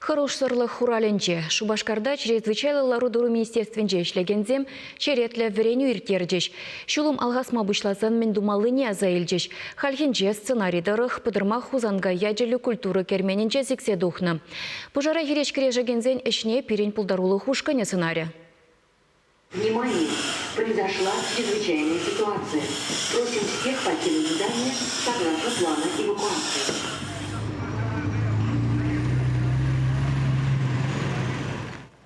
Хӑрушсӑрлӑх хуралӗнче Шупашкарта чрезвычайлӑ лару-тӑру министерствинче ӗҫлекенсем черетлӗ вӗренӳ ирттерчӗҫ. Ҫулӑм алхасма пуҫласан мӗн тумаллине аса илчӗҫ. Хальхинче сценари тӑрӑх Пӑтӑрмах Хусанкай ячӗллӗ культура керменӗнче сиксе тухнӑ. Пушара хирӗҫ кӗрешекенсен ӗҫне пирӗн пултарулӑх ушкӑнӗ сӑнарӗ. Внимание! Произошла чрезвычайная ситуация. Просим всех покинуть здание согласно плану эвакуации.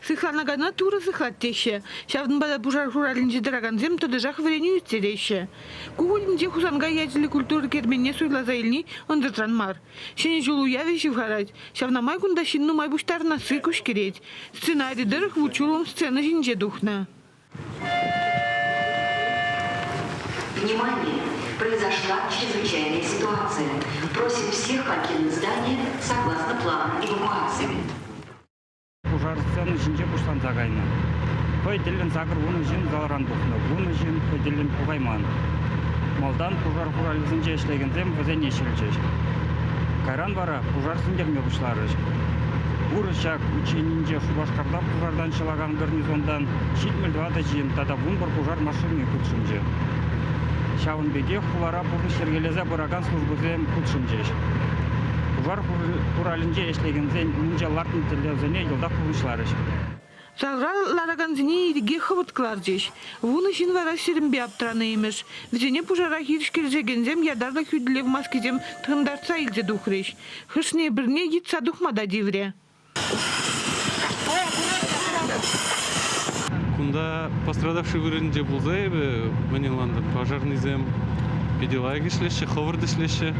Сыхлана кайна Турӑ сыхлать теҫҫӗ. Ҫавӑнпа та пушар хуралӗнче тӑракансем тӑтӑшах вӗренӳ ирттереҫҫӗ. Ку кунӗнче Хусанкай ячӗллӗ культура керменне суйласа илни ӑнсӑртран мар. Ҫӗнӗ ҫул уявӗ ҫывхарать. Ҫавна май кунта ҫын нумай пуҫтарӑнасси куҫкӗрет. Сценари тӑрӑх вут-ҫулӑм сцена ҫинче тухнӑ. Внимание! Произошла чрезвычайная ситуация. Просим всех покинуть здание согласно планам эвакуации. Пушар сцени ҫинче пуҫланса кайнӑ. Хӑй тӗллӗн сакӑр вунӑ ҫын залран тухнӑ, вунӑ ҫын хӑй тӗллӗн пукайман. Малтан пушар хуралӗсенче ӗҫлекенсем вӗсене ҫӗлчӗҫ. Кайран вара пушар сӳнтерме пуҫларӗҫ. Вырӑс ҫак ученинче Шупашкарта пушартан ҫӑлакан гарнизонтан ҫитмӗл тӑватӑ ҫын тата вунпӗр пушар машини хутшӑнчӗ. Ҫавӑн пекех хулара пурнӑҫ йӗркелесе пыракан службӑсем хутшӑнчӗҫ. Пушар хуралӗнче ӗҫлекенсен умӗнче лартнӑ тӗллевсене йӑлтах пурнӑҫларӗҫ. Залра ларакансене ирӗке хӑвӑрт кӑларчӗҫ. Вунӑ ҫын вара сирӗнпе аптӑранӑ имӗш. Вӗсене пушара хирӗҫ кӗрешекенсем ятарлӑ хӳтӗлев маскисем тӑхӑнтартса илсе тухрӗҫ. Хӑшне-пӗрне йӑтса тухма та тиврӗ. Кунта пострадавший вырӑнӗнче пулса эпӗ мӗн ӑнлантӑм, пожарнӑйсем питӗ лайӑх ӗҫлеҫҫӗ, хӑвӑрт ӗҫлеҫҫӗ.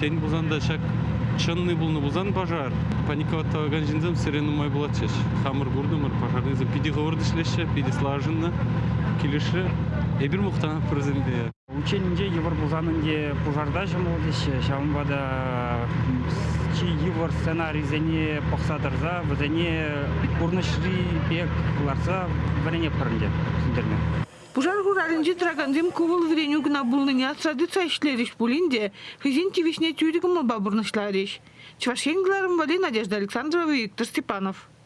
Тен пулсан та ҫак чӑнни пулнӑ пулсан пожар. Паникова тӑвакан ҫынсем сире нумай пулатчӗҫ. Хамӑр куртӑмӑр, пожарнӑйсем питӗ хӑвӑрт ӗҫлеҫҫӗ, питӗ слаженно килӗшрӗ. Эпир мухтанатпӑр вӗсемпе. Унчченинче йывӑр пулсан ӗнтӗ пушарта ҫӑмӑл теҫҫӗ. Ҫавӑнпа та чи йывӑр сценарисене пӑхса тӑрса вӗсене пурнӑҫри пек лартса вӗренетпӗр ӗнтӗ ҫӗнтерме. Пушар хуралӗнче тӑракансем ку вӑл вӗренӳ кӑна пулнине асра тытса ӗҫлерӗҫ пулин те хӑйсен тивӗҫне тӳрӗ кӑмӑлпа пурнӑҫларӗҫ. Чӑваш Ен кӑларӑмвӗ, Надежда Александрова, Виктор Степанов.